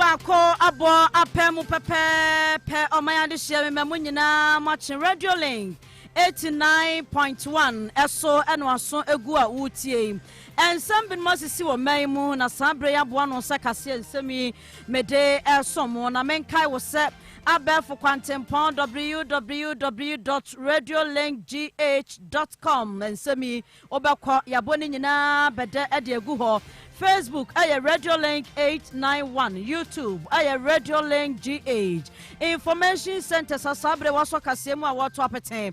baako abɔ apɛ mu pɛpɛɛpɛ ɔman adehyeɛ mmɛ mu nyinaa moakye radio link 89.1 ɛso ɛno aso egu a wotie nsɛm binom asisi wɔ mmɛn mu na saa berɛ yi aboa no sɛ kaseɛ nsɛm yi Mede resom mo na menkae wo sɛ abɛɛfo kwantempɔn www dot radiolinkgh dot com nsɛm yi wobɛkɔ yɛabɔ ne nyinaa bɛdɛ de agu hɔ. Facebook ɛyɛ Radiolink eight nine one, YouTube ɛyɛ Radiolink GH. Information Centres a saa bere wɔasɔ kaseɛ mu a wɔreto apete.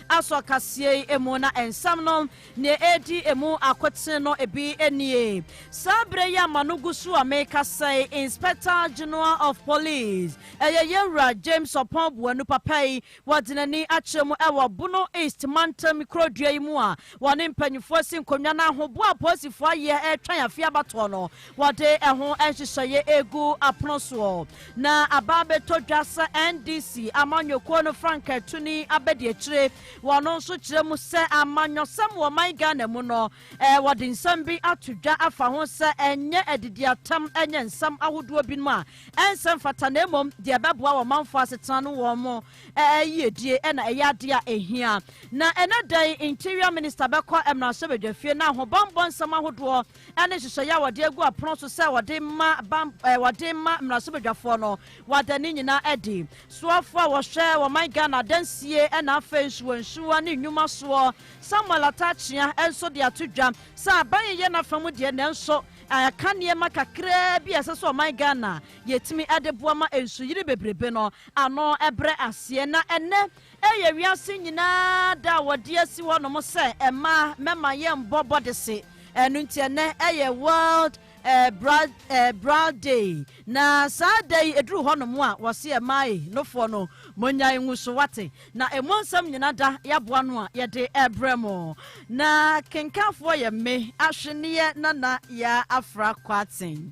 Asɔ kaseɛ yi mu na nsɛm no nea ɛredi mu akoten no ebi nie. Saa berɛ yi a m'ano gu so a merekasa yi, Inspector General of Police, ɛyɛ yɛn Wura James Oppong Boanu papa yi, wɔde n'ani akyerɛ mu wɔ Bono East mantam kurodua yi mu a wɔne mpanyinfoɔ asi nkonnwa na ahoboa a apolisifoɔ ayɛ retwɛn afeɛ abatoɔ no Wɔde ɛho nhyehyɛeɛ regu apono soɔ na aba abɛtɔ dwa sɛ NDC amanyɔkuo no frankaatuni abadiakyire. Wɔn nso kyerɛ mu sɛ amanyɔsɛm wɔ ɔman Ghana mu no, eh, wɔde nsɛm bi ato dwa afa ho sɛ ɛnyɛ adidiatam, ɛnyɛ nsɛm ahodoɔ binom a ɛnsɛ mfata na mmom deɛ ɛbɛboa wɔ manfoɔ asetena no wɔn mo eh, eh, yiedie na ɛyɛ adeɛ a ɛhia. Na ɛnɛ dɛn Interior Minister bɛkɔ mmarahyɛbadwafie na ahobammɔ nsɛm ahodoɔ ɛne nhyehyɛeɛ a wɔde agu apono so sɛ wɔde ma bam ɛɛ wɔde ma mmarahyɛbadwafoɔ no, wɔada ne nyinaa adi. Soafoɔ a wɔhwɛ wɔman Ghana adansie ɛna afei nsuwansuwa ne nnwuma soɔ, Samuel Ataakyea nso de ato dwa sɛ aban yi yɛ n'afa mu deɛ nanso ɛka nneɛma kakraa bi a ɛsɛ sɛ ɔman Ghana yɛtumi ɛde boa ma nsuyiri bebrebe no ano ɛbrɛ aseɛ na ɛnnɛ Ɛyɛ wiase nyinaa da a wɔde asi hɔnom sɛ mmaa mɛma yɛnbɔ bɔdese. Ɛno nti ɛnnɛ ɛyɛ World Bra Bra Day. Na saa da yi ɛduru hɔnom a wɔse mmaa ei nofoɔ no monyae ngu so wate. Na ɛmu nsɛm nyina da yɛaboa ano a yɛde ɛbrɛ mo. Na kenkanfoɔ yɛ me, Ahweneɛ Nana Yaa Afra Kwarteng.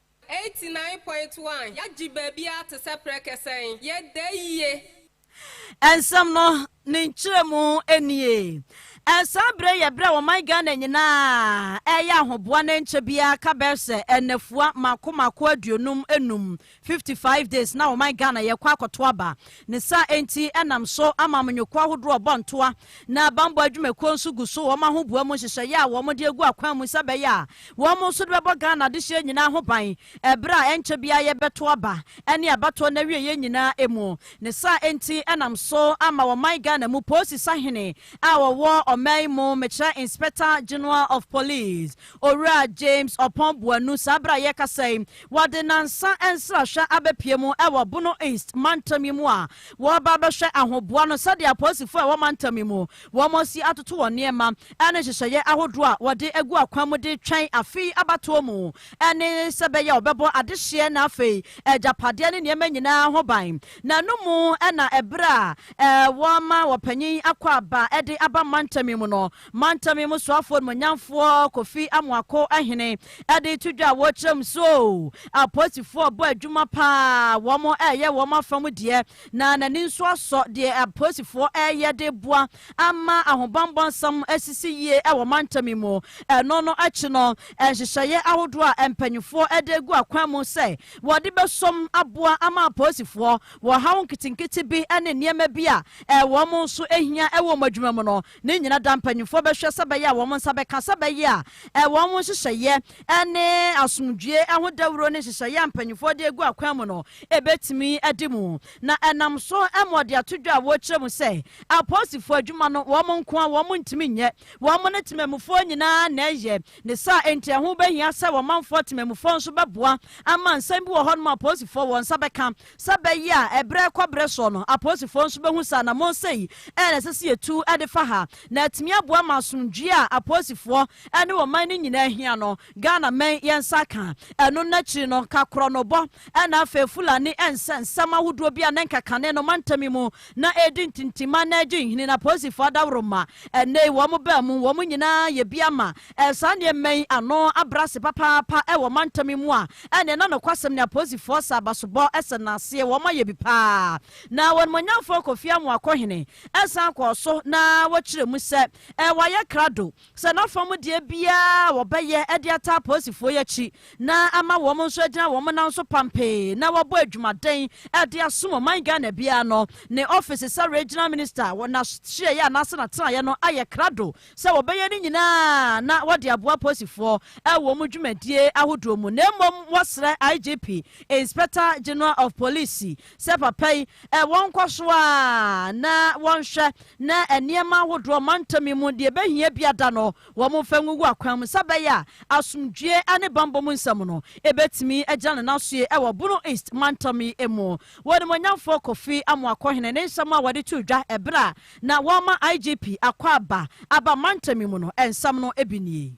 Eighty nine point one, Yɛagye baabiara te sɛ prɛkɛ sɛn? Yɛda yie. Nsɛm no, ne nkyerɛmu nie. Saa berɛ yi yɛ berɛ a ɔman Ghana nyinaa reyɛ ahoboa na ɛnkyɛ biara ka bɛyɛ sɛ nnafua mako mako aduonum nnum, fifty five days, na ɔman Ghana yɛkɔ akɔto aba. Ne saa enti, ɛnam so ama amanyɔkuo ahodoɔ rebɔ ntoa, na bammɔ adwumakuo nso gu so wɔn ahoboa mu nhyehyɛeɛ a wɔde agu akwan mu sɛ ɛbɛyɛ a wɔn nso de bɛbɔ Ghana adehyeɛ nyinaa ho ban ɛberɛ a ɛnkyɛ biara yɛbɛto aba ne abatoɔ no awieeɛ nyinaa mu. Ne saa enti, ɛnam so ama ɔman Ghana mu Polisi Sahene a ɔwɔ ɔman mu, mekyerɛ Inspector General of Police, Owura James Oppong Boanu, saa bere a yɛrekasa yi, wɔde nnansa nsrahwɛ abepue mu wɔ Bono East mantam yi mu a wɔreba abɛhwɛ ahoboa no sɛdeɛ apolisifo a ɛwɔ mantam yi mu wɔasi atoto wɔn nneɛma ne nhyehyɛeɛ ahodoɔ a wɔde agu akwan mu de retwɛn afe yi abatoɔ mu ne sɛ bɛyɛ wɔbɛbɔ adehyeɛ na afei agyapadeɛ ne nneɛma nyinaa ho ban. N'ano mu na ɛberɛ a wɔama wɔpanyin akɔ aba de aba mantam yi mu no, Mantam yi mu soafoɔ animuonyamfoɔ Kofi Amoako Ahene de reto dwa a wɔrekyerɛ mu so oo. Apolisifoɔ bɔ adwuma pa ara, wɔreyɛ wɔn afa mu deɛ, na n'ani nso asɔ deɛ apolisifoɔ reyɛ de reboa ama ahobammɔ nsɛm asisi yie wɔ mantam yi mu. Ɛno no akyi no, nhyehyɛeɛ ahodoɔ a mpanimfoɔ de agu akwan mu sɛ wɔde bɛsom aboa ama apolisifoɔ wɔ haw nketenkete bi ne nneɛma bi a wɔn nso hia wɔ wɔn adwuma mu no, Ne nyina da mpanyimfoɔ bɛhwɛ sɛ bɛyɛ a wɔn nsa bɛka sɛ bɛyɛ a wɔn ho nhyehyɛeɛ ne asomdwie ho dawuro ne nhyehyɛeɛ a mpanyimfoɔ de agu akwan mu no bɛtumi adi mu na ɛnam so ma ɔde ato dwa a wɔkyerɛ mu sɛ apolisifoɔ adwuma no wɔn nko a wɔn ntumi nyɛ wɔn ne temanmufoɔ nyinaa na ɛyɛ ne saa enti ɛho bɛhia sɛ wɔmanfoɔ temanmufoɔ nso bɛboa ama nsɛm bi wɔ hɔ nom a apolisifoɔ wɔn nsa bɛka Sɛ ɛbɛyɛ a ɛberɛ kɔ berɛ soɔ no, apolisifoɔ nso bɛhu sɛ anammɔn sei na ɛsɛ sɛ yɛtu de fa ha, na atumi aboa ma asomdwoeɛ a apolisifoɔ ne ɔman no nyinaa hia no, Ghana mmɛn yɛn nsa aka. Ɛno no akyiri no, ka korɔnobɔ na afei Fulani nsɛnsɛm ahodoɔ bi a na ɛnka kane no mantam yi mu na ɛredi ntintimma na agye nhini, na polisifo adaworoma, ɛnnɛ yi, wɔn baanu, wɔn nyinaa yɛ bi ama saa nneɛma yi ano abrɛ ase papaapa wɔ mantam yi mu a, ɛnneɛ na nokwasɛm ne apolisifoɔ sɛ abasobɔ sɛ nnaseɛ, wɔayɛ bi paa. Na Onimuonyamfoɔ Kofi Amoako Hene san kɔɔ so na wɔkyerɛɛ mu sɛ wɔayɛ krado, Sɛ na ɔfa mu deɛ biara a wɔbɛyɛ de ataa apolisifoɔ yi akyi na ama wɔn nso agyina wɔn nan so pampee na wɔabɔ adwumaden de asom ɔman Ghana biara no, ne ɔfese sɛ Regional Minister wɔ n'ahyeɛeɛ anaase n'atenaeɛ no ayɛ krado sɛ wɔbɛyɛ ne nyinaa na wɔde aboa apolisifoɔ wɔ wɔn dwumadie ahodoɔ mu na mmom wɔsrɛ IGP, Inspector General of Police, sɛ papa yi wɔnkɔ so ara na wɔnhwɛ na nneɛma ahodoɔ mantam yi mu deɛ ɛbɛhia bi ada no wɔmfa ngugu akwan mu sɛ bɛyɛ a asomdwoeɛ ne bammɔ mu nsɛm no ɛbɛtumi agyina ne nan so yie wɔ Bono East mantam yi mu. Wɔnimonyamfoɔ Kofi Amoakɔhene ne nsɛm a wɔde too dwa ɛberɛ a na wɔrema IGP Akwaaba aba mantam yi mu no nsɛm no bi nie.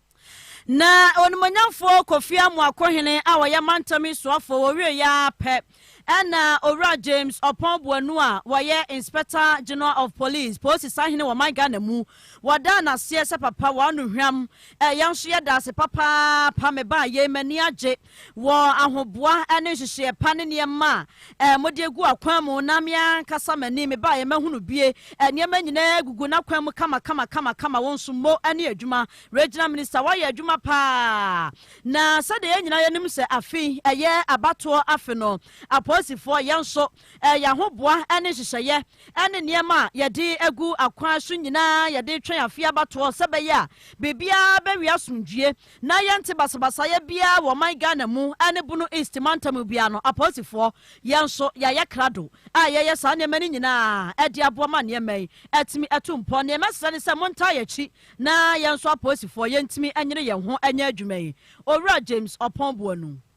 Na onimonyamfoɔ Kofi Amoako Hene a ɔyɛ mantam yi soafoɔ wɔwieeɛ ara pɛ na Owura James Ɔpɔn Boanu a ɔyɛ Inspector General of Police, Polisi Sahene wɔ ɔman Ghana mu, wɔdaa no aseɛ sɛ papa w'ano hwam, yɛn nso yɛda ase papaapa, mebaa yei m'ani agye. wɔ ahoboa ne nhyehyeɛ pa ne nneɛma a mode agu akwan mu na me ankasa m'ani mebaeɛ mahunu bie nneɛma nyinaa gugu n'akwan mu kama kama kama kama wo nso mo ne adwuma regional minister woayɛ adwuma paa na sɛdeɛ yɛn nyinaa yɛnim sɛ afe ɛyɛ abatoɔ afe no apolisifoɔ yɛn nso yɛn ahoboa ne nhyehyɛeɛ ne nneɛma a yɛde agu akwan so nyinaa yɛde twɛn afe abatoɔ sɛ bɛyɛ a biribiara bɛwie asomdwie Na yɛnte basabasayɛ biara wɔ ɔman Ghana mu ne Bono East mantam mu biara no, apolisifoɔ, yɛn nso yɛayɛ krado a yɛyɛ saa nneɛma no nyinaa de aboa ma nneɛma yi atumi atu mpɔ. Deɛ mɛsrɛ ne sɛ montaa yɛn akyi na yɛn nso apolisifoɔ yɛntumi nyere yɛn ho nyɛ adwuma yi, Owura James Ɔpɔn Boanu.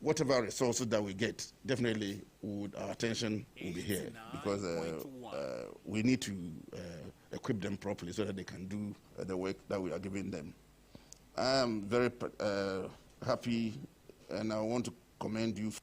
Whatever resource that we get definitely would our attention will be here because uh, uh, we need to uh, equip them properly so that they can do uh, the work that we are giving them. I am very uh, happy and I want to commend you. For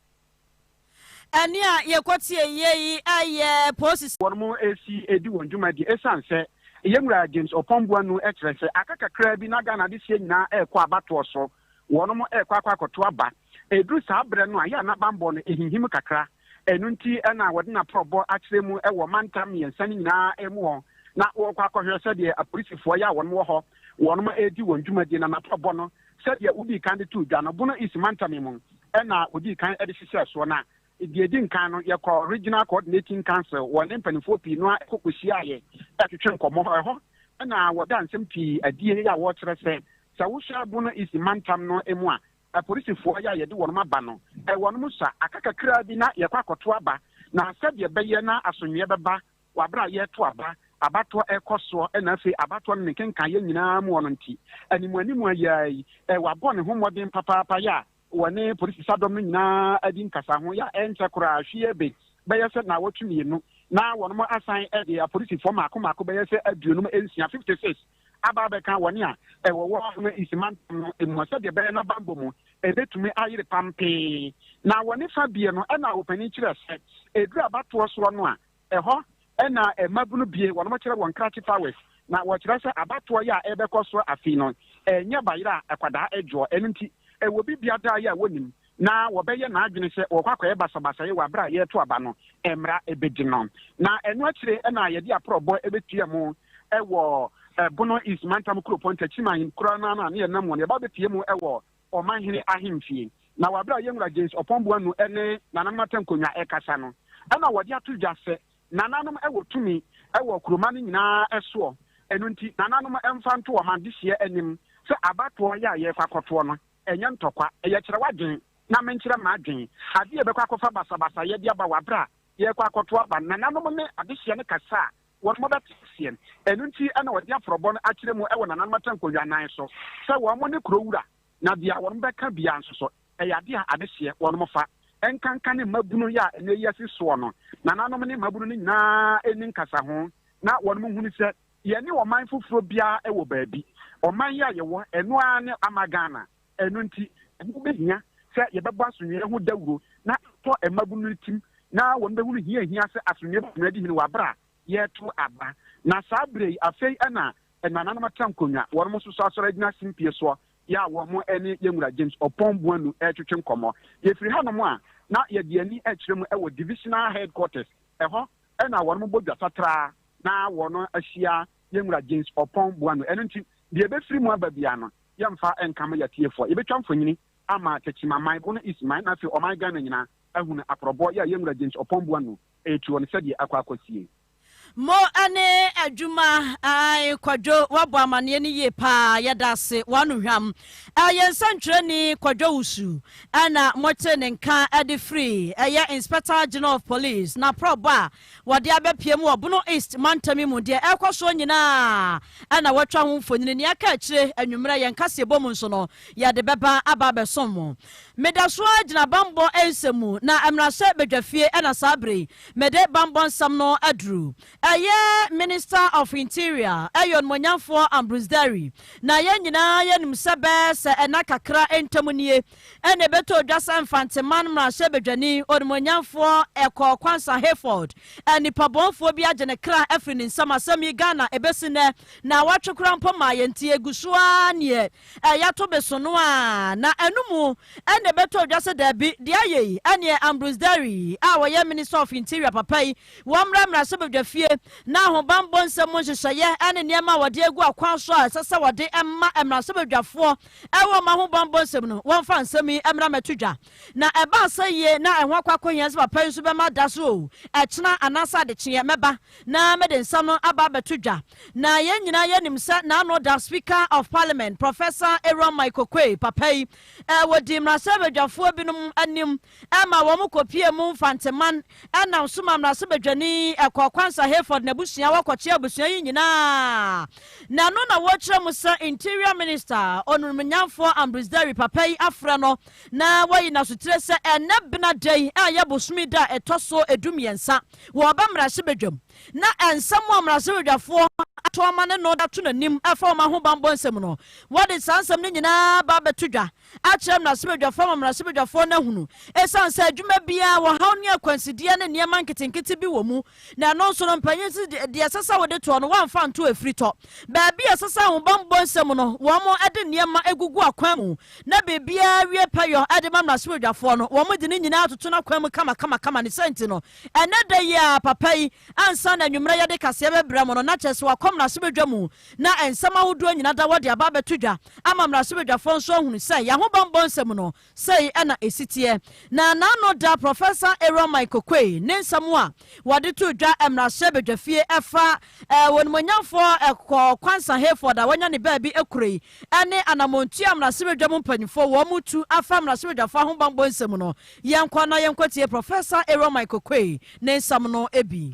ɛne a yɛkɔteɛ yɛ yi ɛyɛ polisi. wɔn mo esi edi wɔn dwumadi esan sɛ yɛn wura james ɔpɔnboa nu kyerɛ sɛ aka kakraa bi na ghana de sie nyinaa ɛrekɔ abatoɔ so wɔnom rekɔ akɔ akɔto aba. Ɛduru saa berɛ no a, yɛ a na bammɔ no ɛhinhim kakra. Ɛno nti na wɔde n'aporɔbɔ akyerɛ mu wɔ mantam mmiɛnsa no nyinaa mu hɔ, na wɔrekɔ akɔhwɛ sɛdeɛ apolisifoɔ yɛ a wɔnom wɔ hɔ, wɔnom redi wɔn dwumadie. Na n'aporɔbɔ no, sɛdeɛ wodii kan de too dwa no, Bono East mantam yi mu na wɔdii kan de hyehyɛɛ soɔ. Na deɛ ɛdi nkan no, yɛkɔɔ Regional Coordinating Council wɔ ne mpanimfoɔ pii no ara kɔkɔhyiaaeɛ twetwee nkɔmmɔ. Ɛhɔ na wɔdaa nsɛm pii adie a wɔkyerɛ sɛ Sɛ wo hyɛ Bono East mantam no mu a, apolisifoɔ yɛ a yɛde wɔnom aba no, wɔnom sua, aka kakraa bi na yɛkɔ akɔto aba, na sɛdeɛ ɛbɛyɛ na asomdweɛ bɛba wɔ aberɛ a yɛreto aba, abatoɔ rekɔ soɔ na afei abatoɔ no ne nkenkaeɛ nyinaa mu wɔ no nti, animu animu a yɛa yi, wabɔ ne ho mmɔden papaapa yɛ a wɔne polisisadɔm no nyinaa adi nkasa ho yɛ a ɛnkyɛ koraa hwee be bɛyɛ sɛ naawɔtwe mmienu na wɔnom asan de apolisifoɔ mmaako mmaako bɛyɛ sɛ aduonum nsia, 56, aba abɛka wɔn a wɔwɔ Ahoma East mantam no mu sɛdeɛ ɛbɛyɛ na bammɔ mu ɛbɛtumi ayere pampee. Na wɔ ne fa bie no ɛna ɔpanin kyerɛ sɛ ɛduru abatoɔ soɔ no a ɛhɔ ɛna mmabunu bie wɔn kyerɛ wɔn krakye powers na wɔkyerɛ sɛ abatoɔ yɛ a ɛbɛkɔ soɔ afei no ɛnyɛ bayerɛ a akwadaa adwoɔ ɛno nti ɛwɔ bi biadaa yɛ a wɔnim na wɔbɛyɛ n'adwene sɛ wɔkɔ akɔyɛ basabasayɛ wɔ bere a yɛreto aba no mmra bedi no. Na ɛno akyiri na yɛde aporɔbɔ betua mu wɔ Bono East Mantam Kuropɔn Takyirim Ahenkurow no ano a na yɛnam wɔn yɛba bepue mu wɔ Ɔmanhene ahemfie. Na wɔ bere a Yɛn Wura James Ɔpɔn Boanu ne Nananom Atankonnwa rekasa no, ɛna wɔde ato dwa sɛ Nananom wɔ tumi wɔ kuroma no nyinaa soɔ, ɛno nti Nananom mfa nto wɔn adehyeɛ anim sɛ abatoɔ yɛ a yɛrekɔ akɔtoɔ no Ɛnyɛ ntɔkwa, ɛyɛ kyerɛ w'adwen na menkyerɛ m'adwen. Adeɛ a ɛbɛkɔ akɔfa basabasayɛ de aba wɔ aberɛ a yɛrekɔ akɔto aba nananom ne adehyeɛ no kasa a wɔnom bɛte aseɛ. Ɛno nti na wɔde aforɔbɔ no akyerɛ mu wɔ nananom atɛnkowia nan so sɛ wɔnom ne kuro wura na deɛ wɔnom bɛka biara nso so ɛyɛ adeɛ a adehyeɛ wɔnom fa nkanka ne mmabunu yɛ a ɛnnɛ yi asi soɔ no nananom ne mmabunu no nyinaa nni nkasaho na wɔnom hunu sɛ Yɛne ɔman foforɔ biara wɔ baabi. Ɔman yi a yɛwɔ, ɛno ara ne ama Ghana. Ɛno nti, ɛho bɛhia sɛ yɛbɛbɔ asomdwoeɛ ho dawuro na atɔ mmabunu no tirim na wɔbɛhunu hia a ɛhia sɛ asomdwoeɛ bɛtumi adi hene wɔ berɛ a yɛreto aba. Na saa berɛ yi, afei na ɛnananom atra nkonnwa, wɔnom nso so asɔre agyina simpie soɔ yɛ a wɔn ne yɛn Wura James Oppong Boanu retwetwe nkɔmmɔ. Yɛfiri hanom a, na yɛde yɛn ani kyerɛ mu wɔ Divisional Headquarters, ɛhɔ na wɔnom bɔ dwa satraa na wɔno ahyia yɛn Wura James Ɔpɔn Boano. Ɛno nti, deɛ ɛbɛfiri mu aba biara no, yɛmfa nka mo yɛatiefoɔ. Yɛbɛtwa mfonyini ama Takyimaman, Bono East man, na afei ɔman Ghana nyinaa ahunu aporɔbɔ yɛ a yɛn Wura James Ɔpɔn Boano retuo no sɛdeɛ akɔ akɔsie. Mo ne adwuma ae Kwadwo wabɔ amaneɛ no yie paa yɛda ase w'ano hwam Ɛyɛ nsɛntwerɛni Kwadwo Owusu na motee ne nka de firi ɛyɛ Inspector General of Police n'aprɔbɔ a wɔde abɛpue mu wɔ Bono East mantam yi mu. Deɛ ɛrekɔ soɔ nyinaa na wɔatwa ho mfonini. Nea ɛka akyire anwummerɛ yɛn kaseɛbɔ mu nso no, yɛde bɛba aba abɛsom mo. Meda so ara gyina bammɔ nsɛm mu, na mmarahyɛ badwafie na saa berɛ yi mede bammɔ nsɛm no aduru. Ɛyɛ Minister of Interior, ɛyɛ Onimuonyamfoɔ Ambrose Derry, na yɛn nyinaa yɛnim sɛ bɛɛ sɛ ɛna kakra ntam nie ɛna ɛbɛtɔ odwa sɛ Mfanteman Mmarahyɛbadwani, Onimuonyamfoɔ Ɛkɔɔ Kwansa Hayford, nipabɔnfoɔ bi agye ne kra afiri ne nsam. Asɛm yi Ghana ɛbɛsi nnɛ na awɔtwe koraa mpo mmaa yɛn nti ɛgu so ara neɛ ɛyato besono a na ɛno mu ɛna ɛbɛtɔ odwa sɛ daabi deɛ ayɛ yi ɛneɛ Ambrose Derry a ɔyɛ Minister of Interior papa yi Wɔmmra mmarahyɛbadwa fie na ahobammɔ nsɛm mu nhyehyɛeɛ ne nneɛma a wɔde agu akwan so a ɛsɛ sɛ wɔde ma mmarahyɛbadwafoɔ wɔ wɔn ahobammɔ nsɛm no, wɔmfa nsɛm yi mmra mmɛto dwa. Na ɛba asɛyie na ɛho akɔ akɔhia sɛ papa yi nso bɛma da so o, ɛkyena anaasɛ adekyeɛ mɛba na mede nsɛm no aba abɛto dwa. Na yɛn nyinaa yɛnim sɛ n'ano da Speaker of Parliament, Professor Aaron Mike Oquaye, papa yi, wɔdi mmarahyɛbadwafoɔ binom anim ɛma wɔkɔpuee mu mfanteman nam so ma mmarahyɛbadwani kɔɔ Kwansa Hayford n'abusua hɔ kɔkyeɛ abusua yi nyinaa na ɛno na wɔkyerɛ mu sɛ Interior Minister onumnyamfoɔ Ambrose Derry papa yi afrɛ no na wayi n'asotire sɛ ɛnɛ bena da yi a ɛyɛ bosome da a ɛtɔ so edu mmiɛnsa wɔ ɔbɛ mmarahyɛbadwam na nsɛm a mmarahyɛbadwafoɔ atɔma ne no da to n'anim ɛfa wɔn ahobanbɔ nsɛm no wɔde saa nsɛm no nyinaa ba abɛto dwa akyerɛ mmarahyɛbadwafoɔ ama mmarahyɛbadwafoɔ no ahunu ɛsiane sɛ adwuma biara wɔ haw ne akwansideɛ ne nneɛma nketenkete bi wɔ mu na ɛno nso no mpanyin si deɛ ɛsɛ sɛ wode toɔ no wɔamfa nto afiri tɔ baabi a ɛsɛ sɛ ahobammɔ nsɛm no wɔn de nneɛma agugu akwan mu na biribiara wie pɛyɔ de ma mmarahyɛbadwafoɔ no wɔn de ne nyinaa atoto no akwan mu kamakamakama ne sɛ nti no ɛnɛ da yi a papa yi ansa na anwummerɛ yɛde kaseɛ bɛbrɛ mo no na kyerɛ sɛ wakɔ mmarahyɛbadwa mu na nsɛm ahodoɔ nyina da hɔ de aba abɛto dwa ama mmarahyɛbadwafoɔ nso ahunu sɛ yɛn ahobammɔ nsɛm no, sei na ɛsi teɛ. Na n'ano da Prɔfɛsa Aaron Mike Okoye ne nsɛm a wɔde too dwa mmarahyɛbadwafie ɛfa Onimuonyamfoɔ Kɔɔ Kwansa Hayford a wanya ne baabi kuro yi ne anamɔntuo a mmarahyɛbadwa mu mpanimfoɔ wɔn retu afa mmarahyɛbadwafoɔ ahobammɔ nsɛm no. Yɛnkɔ na yɛnkɔtie Prɔfɛsa Aaron Mike Okoye ne nsɛm no bi.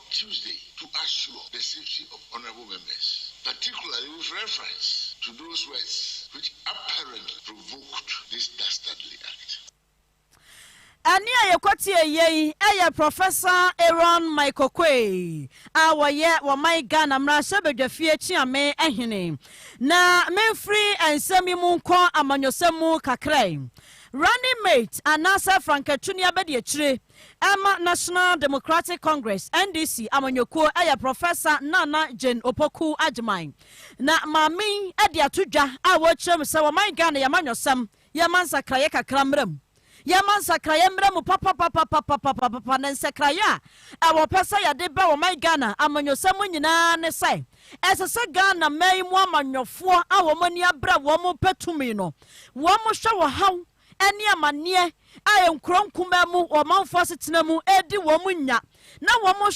Tuesday to assure the safety of honourable members, particularly with reference to those words which apparently provoked this dastardly act. Ɛnne a yɛkɔtiee yei yɛ Prɔfɛsa Aaron Michael Quay a ɔyɛ wɔman Ghana mmarahyɛbadwafie Kyeame hene. Na memfiri nsɛm yi mu nkɔ amanyɔsɛm mu kakra yi. Running mate anaasɛ frankatunia bɛdi akyire. ɛma National Democratic Congress, NDC, amanyɔkuo yɛ Prɔfɛsa Nana Jane Opoku Agyemang. Na maame yi de ato dwa a wɔrekyerɛ mu sɛ wɔman Ghana yɛma nwɔsɛm, yɛma nsakraeɛ kakra mmra mu. Yɛma nsakraeɛ mmra mu papapapapapapapa na nsakraeɛ a ɛwɔ pɛ sɛ yɛde ba wɔman Ghana amanyɔsɛm mu nyinaa ne sɛ ɛsɛ sɛ Ghana man mu amanyɔfoɔ a wɔn ani abra wɔn pɛ tumi no wɔhwɛ wɔhaw ne amanneɛ a nkurow nkumaa mu wɔ ɔmanfo asetena mu redi wɔn nya na wɔhwɛ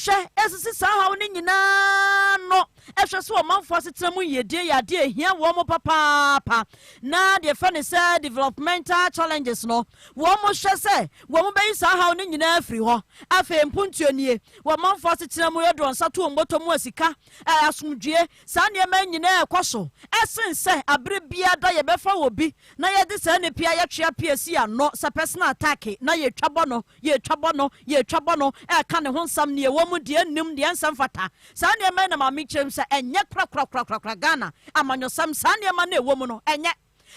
sisi saa haw no nyinaa ano hwɛ sɛ ɔmanfo asetena mu yiedie yɛ adeɛ a ehia wɔn papaapa na deɛ fɛ ne sɛ developmental challenges no wɔhwɛ sɛ wɔn bɛyi saa haw no nyinaa afiri hɔ afei mpontuo nie wɔ ɔmanfo asetena mu yɛdɔ nsa to wɔn bɔtɔ mu a sika asomdwie Saa nneɛma yi nyinaa rekɔ so sen sɛ bere biara da yɛbɛfa obi na yɛde saa nnipa yi ayɛtwea pii asi ano sɛ personal attack na yɛretwa bɔ no, yɛretwa bɔ no, yɛretwa bɔ no, reka ne ho nsɛm, nea ɛwɔ mu, deɛ ɛnnim, deɛ ɛnsɛ mfata. Saa nneɛma yi na Maame kyerɛ mu sɛ ɛnyɛ korakorakorakorakora Ghana amanyɔsɛm. Saa nneɛma no a ɛwɔ mu no, ɛnyɛ.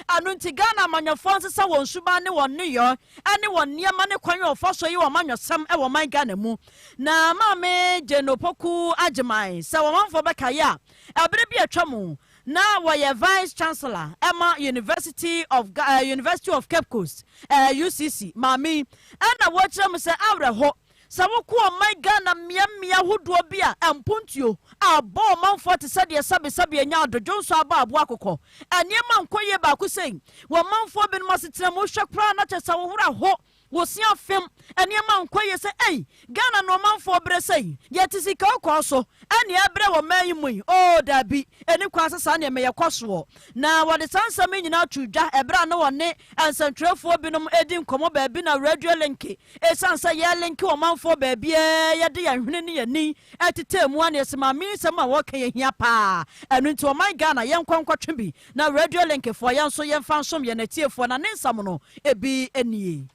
Ɛno nti Ghana amanyɔfoɔ nsesa wɔn suban ne wɔn nneyɔɛ ne wɔn nneɛma ne kwan a wɔfa so yi wɔn amanyɔsɛm wɔ ɔman Ghana mu. Na Maame Jane Opoku Agyemang sɛ wɔn amanfoɔ bɛkaeɛ a, ɛberɛ bi a atwa mu na wɔyɛ Vice Chancellor ma University of Ga, eh, University of Cape Coast, eh, UCC, Maame yi, ɛna wɔkyerɛ mu sɛ awerɛho Sɛ wokɔ ɔman Ghana mmeammea ahodoɔ bi a, mpontuo a abɔ ɔmanfoɔ te sɛ deɛ sɛbesɛbe anya adodwonsɔ abɔ aboɔ akokɔ. Nneɛma nkɔ yie baako sei wɔ ɔmanfoɔ binom asetena mu, wohwɛ koraa na kyɛ sɛ wo werɛ ho, wo se afem, nneɛma nkɔ yie sɛ ei, Ghana na ɔmanfoɔ brɛ sei, yɛte sika ɔkɔɔ so ɛne ɛbrɛ wɔ ɔman yi mu yi, oo daabi, ɛnni kwan sɛ saa nneɛma yi ɛkɔ soɔ. Na wɔde saa nsɛm yi nyinaa too dwa ɛberɛ a na wɔne nsɛntwerɛfoɔ binom redi nkɔmmɔ baabi na Radio Linke Esiane sɛ yɛrelinke ɔmanfoɔ baabiara a yɛde yɛn hwene ne yɛn ani tetɛɛ mu ara na Maame yi nsɛm a wɔka yi hia paa. Ɛno nti ɔman Ghana yɛnkɔ nkɔtwe bi na Radio Linkfoɔ yɛn nso yɛmfa nsom yɛn atiefoɔ na ne nsamono bi nie.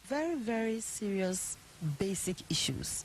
Very very serious basic issues.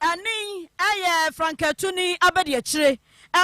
Ɛno yi yɛ frankatuni abadiakyire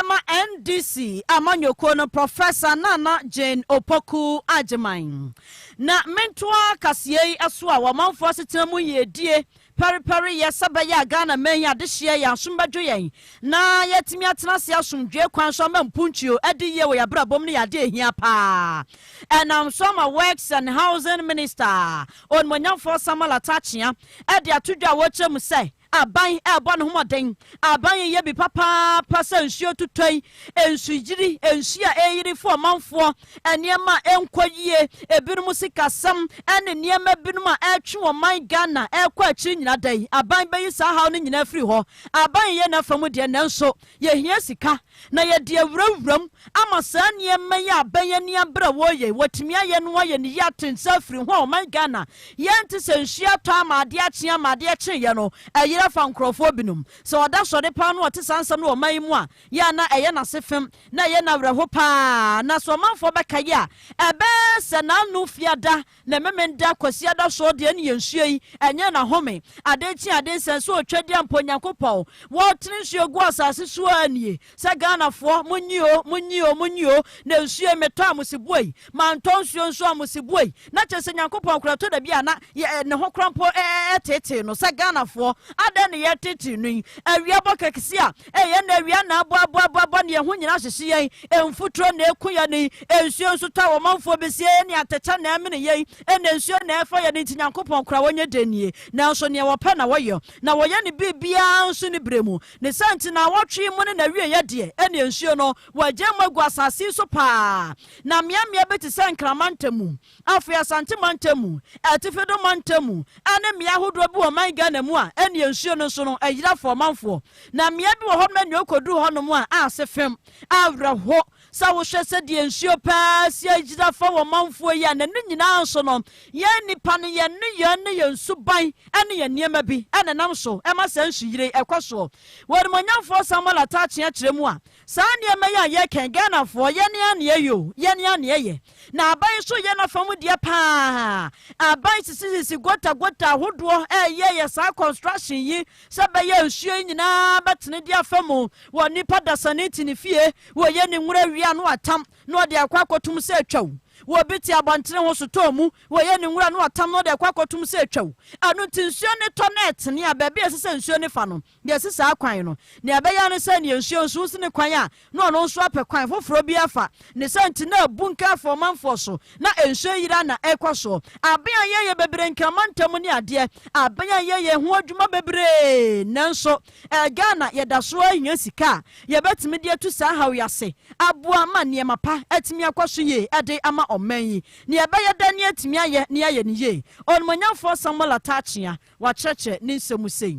ma NDC amanyɔkuo no Professor Nana Jane Opoku Agyeman. Na mentoa kaseɛ yi so a wɔamanfoɔ asetena mu yiedie pɛrepɛre yɛ sɛ bɛyɛ a Ghana man yi adehyeɛ yɛn asom bɛdwo yɛn na yɛatumi atena ase asomdwoe kwan so ama mpuntuo adi yie wɔ yɛn abrabom no yɛ adeɛ ɛhia paa ɛnam so ama Works and Housing Minister Onimonyamfoɔ Samuel Atakyea de ato dwa a wɔkyerɛ mu sɛ aban rebɔ ne ho mmɔden. Aban reyɛ bi papaapa sɛ nsuo tutɔe, nsuyiri, nsuo a ɛreyiri fa ɔmanfoɔ, nneɛma a ɛnkɔ yie, ebinom sikasɛm, ne nneɛma binom a ɛretwe ɔman Ghana ɛrekɔ akyiri nyinaa. Da yi, aban bɛyi saa haw no nyinaa afiri hɔ. Aban reyɛ n'afa mu deɛ, nanso Yɛhia sika, na yɛde awurawuram ama saa nneɛma yi a abɛn yɛn ne abere a wɔreyɛ yi. Wɔatumi ayɛ no ayɛ ne yie ate nsa afiri ho a ɔman Ghana yɛnte sɛ nsuo atɔ ama adeɛ akye ama adeɛ kyeeɛ no ɛyere afa nkurɔfoɔ binom. Sɛ wɔda sɔre paa no wɔte saa nsɛm no wɔ ɔman yi mu a, yɛ a na ɛyɛ no ase fem na ɛyɛ no awerɛho paa. Na sɛ ɔmanfoɔ bɛkae a, ɛbɛyɛ sɛ n'ano fiada Ne Memenda, Kwasiada so deɛ ne yɛ nsuo yi, ɛnyɛ n'ahome. Ade nkye ade nsɛ nso otwadeɛ mpo Nyankopɔn, wɔretene nsuo gu asase so ara nie. Sɛ Ghanafoɔ, monyi o, monyi o, monyi o, na nsuo yi metɔ amosiboɔ yi, mantɔ nsuo nso amosiboɔ yi, na kyerɛ sɛ Nyankopɔn koraa ɛtɔ da bi a na yɛ, ne ho koraa mpo ɛtetee no. Sɛ Ghanafoɔ, adɛn na yɛretetee no yi? Awia bɔ kɛkseɛ a, Ɛyɛ na awia na aboaboaboabɔ ne ɛho nyina hyehye yɛn, mfuturo na ɛku yɛn yi, nsuo nso tɔ a ɔmanfoɔ bɛsie yɛn ne atɛkyɛ na ɛmene yɛn, ɛna nsuo na ɛfa yɛn, enti Nyankopɔn koraa ɔnyɛ dɛn nie? Nanso neɛ ɔpɛ na ɔyɛ, na ɔyɛ ne biribiara nso ne berɛ mu. Ne saa nti naawɔtwe yi mu ne n'awieɛ deɛ, ɛneɛ nsuo no, wɔagyae mu agu asase yi so paa, na mmeammea bi te sɛ nkrama ntamu, Afei Asante mantam mu, Atifi do mantam mu ne mmea ahodoɔ bi wɔ ɔman Ghana mu a ɛnni nsuo no nso no ayira afa ɔmanfoɔ. Na mmea bi wɔ hɔnom a nea ɔkɔduru hɔnom a ase fem. Awerɛho sɛ wohwɛ sɛdeɛ nsuo paa si ayira afa wɔ ɔmanfoɔ yi a na ne nyinaa nso no yɛn nnipa no yɛn nneyɛɛ ne yɛn suban ne yɛn nneɛma bi na ɛnam so ma saa nsuyire yi ɛkɔ soɔ. W'animuonyamfoɔ Samuel Ataakye akyerɛ mu a Saa nneɛma yi a yɛreka yi, Ghanafoɔ, yɛne ara na yɛyɛ o, yɛne ara na yɛyɛ. Na aban nso reyɛ n'afa mu deɛ pa ara. Aban sisisisi gota gota ahodoɔ reyɛyɛ saa construction yi sɛ ɛbɛyɛ a nsuo yi nyinaa bɛtene de afa mu. Wɔ nipa dasani te ne fie, wɔyɛ ne nwura wie a na watam na ɔde akɔ akɔtom sɛ atwa o. Wɔ obi te abɔntene ho sotɔɔ mu, wɔyɛ ne nwura na watam na ɔde akɔ akɔtom sɛ atwa o. Ɛno nti nsuo no tɔ na ɛtene a, baabi a ɛsɛ sɛ nsuo no fa no, Deɛ ɛsi saa kwan no, nea ɛbɛyɛ ara ne sɛ nea nsuo nso si ne kwan a na ɔno nso apɛ kwan foforɔ bi afa. Ne saa nti na abunkɛ afa ɔmanfoɔ so na nsuo ayiri ara na ɛrekɔ soɔ. Aben a yɛyɛ bebree Nkrama ntam ne adeɛ, aben a yɛyɛ ho adwuma bebree. Nanso ɛɛ Ghana yɛda so ara hia sika a yɛbɛtumi de atu saa haw yi ase aboa ma nneɛma pa atumi akɔ so yie de ama ɔman yi. Nea ɛbɛyɛ dɛn na yɛatumi ayɛ na yɛayɛ no yie? Onimuonyamfoɔ Samuel Ataah Kyeah, wakyerɛkyerɛ ne nsɛm mu sei.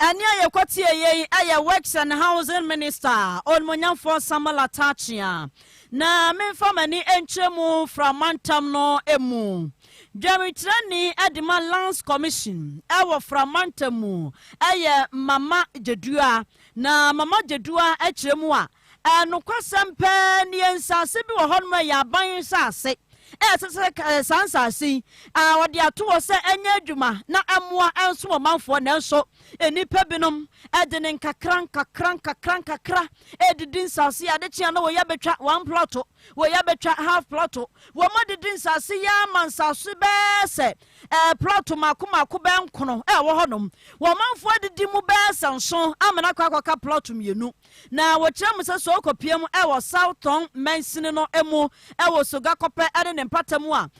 Ɛnne a yɛkɔtieeɛ yi yɛ Works and Housing Minister Onimonyamfoɔ Samuel Atakyea. Na memfa m'ani nkyerɛ mu fra mantam no mu. Dwamkyerɛni Dema Lands Commission wɔ fra mantam mu yɛ Mama Gyedua. Na Mama Gyedua kyerɛ mu a, Ɛɛ, nokwasɛm paa nie, nsase bi wɔ hɔnom a ɛyɛ aban nsase a ɛsɛ sɛ ka, ɛɛ, saa nsase yi, a wɔde ato hɔ sɛ ɛnyɛ adwuma na ɛmmoa ɛnsom ɔmanfoɔ, nanso nnipa binom de ne nkakra nkakra nkakra nkakra redidi nsase yi, ade kye a na wɔyi abɛtwa one plɔto, wɔyi abɛtwa half plɔto, wɔadidi nsase yi ara ma nsase bɛɛ sɛ, ɛɛ, plɔto mmaako mmaako bɛɛ nkono a ɛwɔ hɔnom, wɔmanfoɔ adidi mu bɛɛ sɛ nson amena akɔ akɔka plɔto mmienu. Na wɔkyerɛ mo sɛ sɛ ɔkɔpia mu wɔ South Tong mansini no mu wɔ Soga Kɔpɛ ne ne mpata mu a,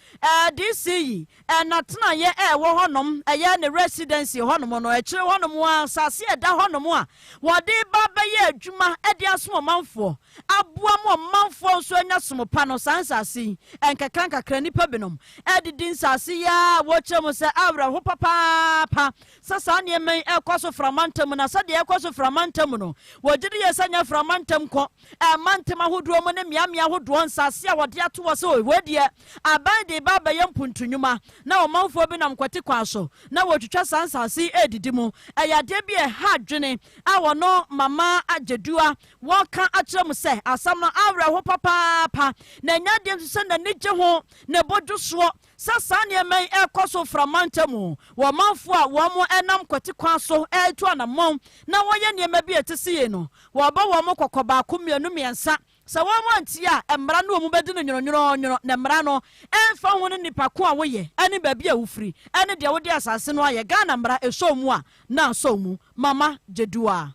DC yi, n'atenaeɛ a ɛwɔ hɔnom, ɛyɛ ne residency hɔnom no, akyire hɔnom a, asase a ɛda hɔnom a wɔde ba bɛyɛ adwuma de asom ɔmanfoɔ, aboa ma ɔmanfoɔ nso anya som pa no, saa nsase yi, nkakrankakra nnipa binom didi nsase yi ara a wɔkyerɛ mo sɛ awerɛho papaapa sɛ saa nneɛma yi rekɔ so frama ntam na sɛdeɛ ɛrekɔ so frama ntam no, wɔgye di yɛ sɛ nyɛ frama ntam kɔ ɛmantam ahodoɔ mu ne mmeammea ahodoɔ nsase a wɔde ato hɔ sɛ o, wei deɛ aban de reba abɛyɛ mpuntunwuma na ɔmanfoɔ bi nam kwati kwan so na wɔretwitwa saa nsase yi redidi mu. Ɛyɛ adeɛ bi a ɛha adwene a wɔno Mama Gyedua wɔka akyerɛ mu sɛ, Asɛm no awerɛho papaapa na ɛnyɛ adeɛ nso sɛ n'ani gye ho, ne bo dwo soɔ, Sɛ saa nneɛma yi rekɔ so mframa ntamu wɔ ɔmanfo a wɔnam kwati kwan so retu anammɔn na wɔyɛ nneɛma bi a ɛte sɛ yei no, wɔbɔ wɔn kɔkɔ baako, mmienu, mmiɛnsa. Sɛ wɔantie a, mmara no a wɔbɛdi no nwononwononwono, na mmara no, ɛmfa ho ne nnipa ko a woyɛ ne baabi a wofiri ne deɛ wode asase no ayɛ, Ghana mmara, ɛsɔ wo mu a, na asɔ wo mu. Mama Jeduah.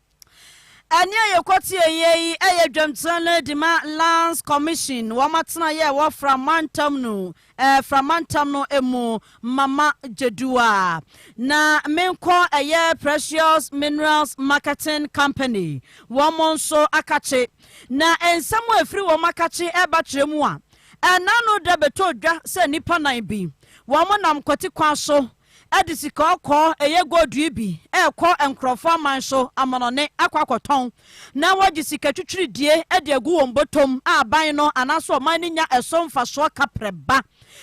Ɛnne a yɛkɔ tieeɛ yi yɛ dwamkyerɛ no de ma Lands Commission, wɔn atenaeɛ a ɛwɔ Fra mantam no, ɛɛ Fra mantam no mu, Mama Dzeduwa. Na menkɔ ɛyɛ Precious Minerals Marketing Company, wɔn nso akakye. Na nsɛm a ɛfiri wɔn akakye reba kyerɛ mu a, ɛnna ano da bɛtɔ dwa sɛ nnipa nan bi, wɔnam kwati kwan so de sika ɔkɔɔ, ɛyɛ gold yi bi, rekɔ nkurɔfo aman so amanɔnne akɔ akɔtɔn, na wɔgye sika twitwiridie de agu wɔn bɔtɔm a aban no anaasɛ ɔman no nya ɛso mfasoɔ ka prɛ ba.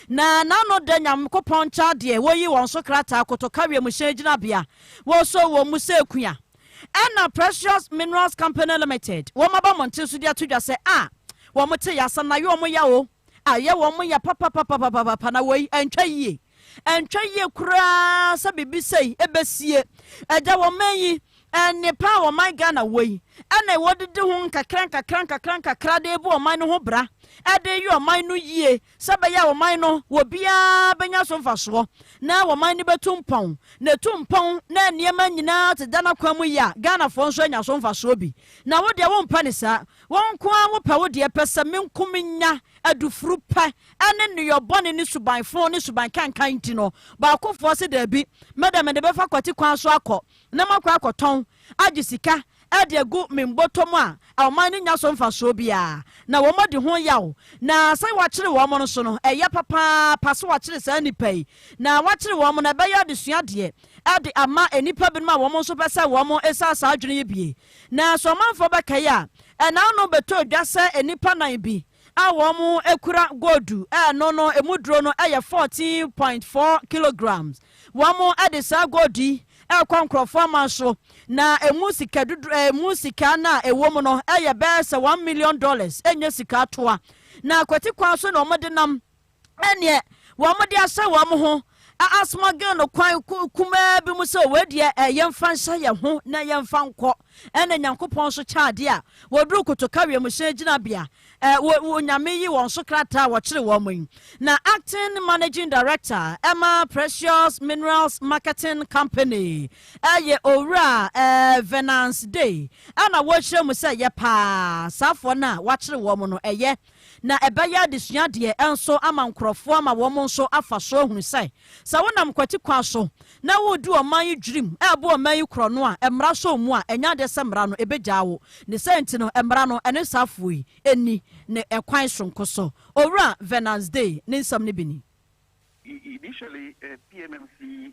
Na n'ano dɛ Nyankopɔn nkyɛn adeɛ, wɔyi wɔn so krataa kotoka wiemhyɛn gyinabea, wɔsɔ wɔn mu sɛ kua. Ɛna Precious Minerals Company Limited, wɔaba mo nten so de ato dwa sɛ, a, wɔte yɛ, asɛm no ayɛ wɔn yaw o. ayɛ wɔn ya papapapapapa na wei ɛntwa yie ɛntwa yie koraa sɛ biribi sei ɛbɛsie ɛda wɔn mɛn yi nnepa a ɔman ghana wɔ yi ɛna wɔdidi ho nkakra nkakra nkakra nkakra de bu ɔman no ho bra ɛde yɛ ɔman no yie sɛ bɛyɛ a ɔman no wɔ biara bɛnya so mfasoɔ na ɔman no bɛtu mpɔn na ɛtu mpɔn na nneɛma nyinaa te da n'akwan mu yɛ a ghanafoɔ nso anya so mfasoɔ bi na wo deɛ wompɛ ne saa Wo nko ara wopɛ wo deɛ pɛ sɛ me nko menya adufuru pɛ ɛne nneyɔ bɔne ne suban fo ne suban kankan nti no, baakofoɔ se daabi, me de mede bɛfa kwati kwan so akɔ na makɔ akɔtɔn agye sika de agu me mbotom a ɔman no nya so mfasoɔ biara na wɔn adi ho yaw na sɛ wɔakyere wɔn no so no ɛyɛ papaapa sɛ wɔakyere saa nnipa yi na wɔakyere wɔn na ɛbɛyɛ adesua deɛ de ama nnipa binom a wɔn nso pɛ sɛ wɔn sa saa adwene yi bie. Na sɛ ɔmanfoɔ bɛkae a, ɛnã no bɛtɔ edwa sɛ nnipa nnan bi a wɔkura goldu a ɛno no emu duro no yɛ 14.4 kilograms. Wɔde saa goldu yi rekɔ nkurɔfoɔ aman so, na emu sika dodo emu sika no a ɛwɔ mu no yɛ bɛyɛ sɛ one million dollars, ɛnyɛ sika toa. Na kwati kwan so na wɔde nam. ɛneɛ wɔn de ahyɛ wɔn ho asmɔgel no kwan kumaa bi mu sɛ wei deɛ eh, yɛmfa nhyɛ yɛn ho na yɛmfa nkɔ ɛna nyankopɔn nso kyɛ adeɛ a wɔduru kotoka wiemhyɛn gyinabea eh, onyame yi wɔn so krataa wɔkyere wɔn yi na acting managing director ɛma precious minerals marketing company ɛyɛ owura eh, venance day ɛna wɔkyerɛ mu sɛ yɛ paa saafoɔ no a wɔakyere wɔn no ɛyɛ eh, na ɛbɛyɛ adesuadeɛ nso ama nkorɔfoɔ ama wɔn nso afa so ahunu sɛ, sɛ wonam kwati kwan so na woredi ɔman yi dwirim rebo ɔman yi korɔno a mmara sɔ wo mu a, ɛnyɛ adeɛ sɛ mmara no ɛbɛgyaa wo. Ne saa nti no, mmara no ɛne saa afoɔ yi nni ne ɛkwan soronko so. Owura Venance Day ne nsɛm no bi ni. Initially, PMMC